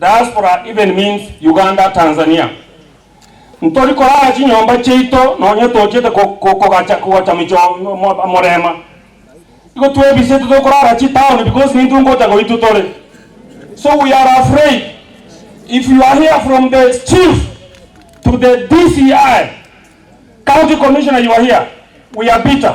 Diaspora even means Uganda, Tanzania. Ntori korara chinyomba chiaito nonye tochiete kogacha kogocha micho morema. Igo twebisete tokorara chitown because nintwe ngocha goitwe tore. So we are afraid if you are here from the chief to the DCI, county commissioner you are here we are bitter.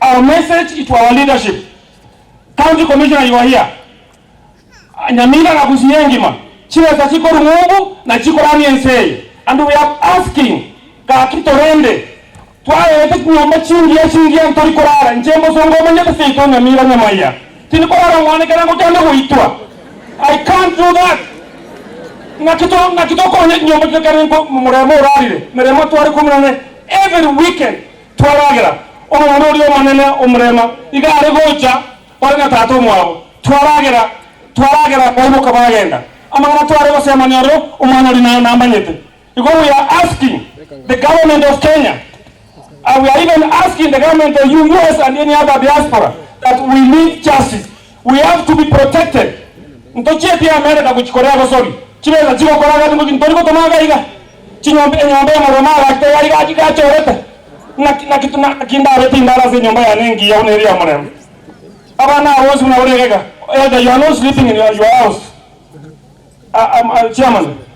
Our message to our leadership, County Commissioner you are here, Nyamira na Gusii engima, chibesa chikorwa ng'umbu na chikoramia ense eye and we are asking gaki torende twaegete chinyomba chingiya chingiya ntori korara inche mbosongo omanyete seito Nyamira Nyamaiya tindi korara omwane kerengo kiane goitwa I can't do that ng'aki to ng'aki tokonya chinyomba chire kerengo momoremo orarire meremo tware kumi na ene every weekend Twaragera omwana oria omonene omorema, iga are gocha ore na tata omwabo. Twaragera, twaragera baiboka bagenda. Amang'ana tware gosemania ore omwana oria nao namanyete. Igo we are asking the government of Kenya, we are even asking the government of US and any other diaspora that we need justice. We have to be protected, ntochieti America gochi koria abasori, chibesa chigokora gati ngoki ntori gotoma aka iga, chinyomba, enyomba ya morwa mao gati teyari gaki iga achorete, naki, naki, naki ndabe tindara ase enyomba yane engiya buna eria ya morembe. Abana aba bonsi buna ore iga iga, either you are not sleeping in your, your house, a, a, a, chairman.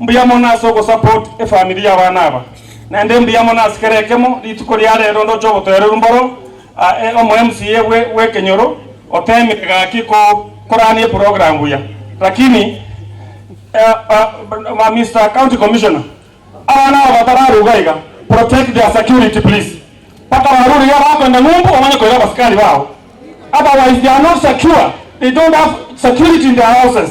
Mbuya mono ase ogosupport efamiri y'abana aba. Naende mbuya mono ase kera ekemo rituko ria rero ndoche obotoereru mboro aye omo MCA bwe bw'ekenyoro otemire gaki ko korania eprogram buya lakini eh Mister county commissioner abana aba batararuga iga protect their security please mpaka barure iga bakoenda ng'umbu omanye koira abasikari bao otherwise they are not secure they don't have security in their houses.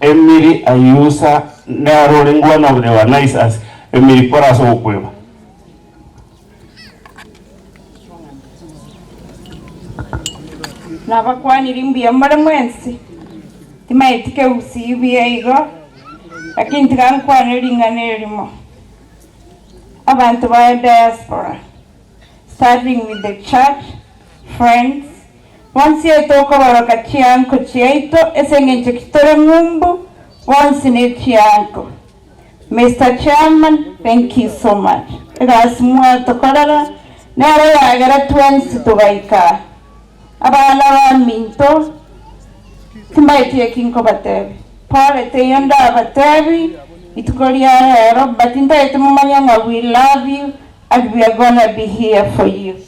Emiri aiusa nero ore ngwana obonene bwa Nisus, emiri kore ase ogokweba. Nabakwaniri mbuya more mwensi, timaeti kegusii buya igo, lakini tiga nkwane ring'ana erimo. Abanto ba diaspora, starting with the church, friends, Bonsi yaito okoboroka chianko chiaito ase engencho ki tore ng'umbu bonsi ne chianko. Mister chairman thank you so much egasi mwatokorera nero yagera twensi togaika aa. Abana baminto timbaeti eki nkobatebia pole teiyo ndabatebi rituko ria rero but ntaeti momanye ng'a we love you and we are gonna be here for you.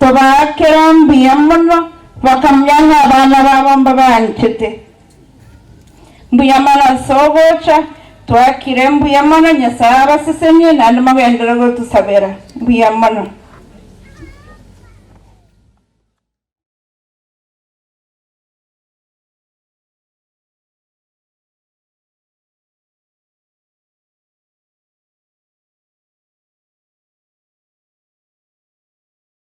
Tobaakera mbuya mono, bakamanya ng'a abana babo mbabaanchete mbuya. Mana ase ogocha twakire mbuya mono, Nyasae abasesenie, naende mogenderere gotosabera mbuya mono.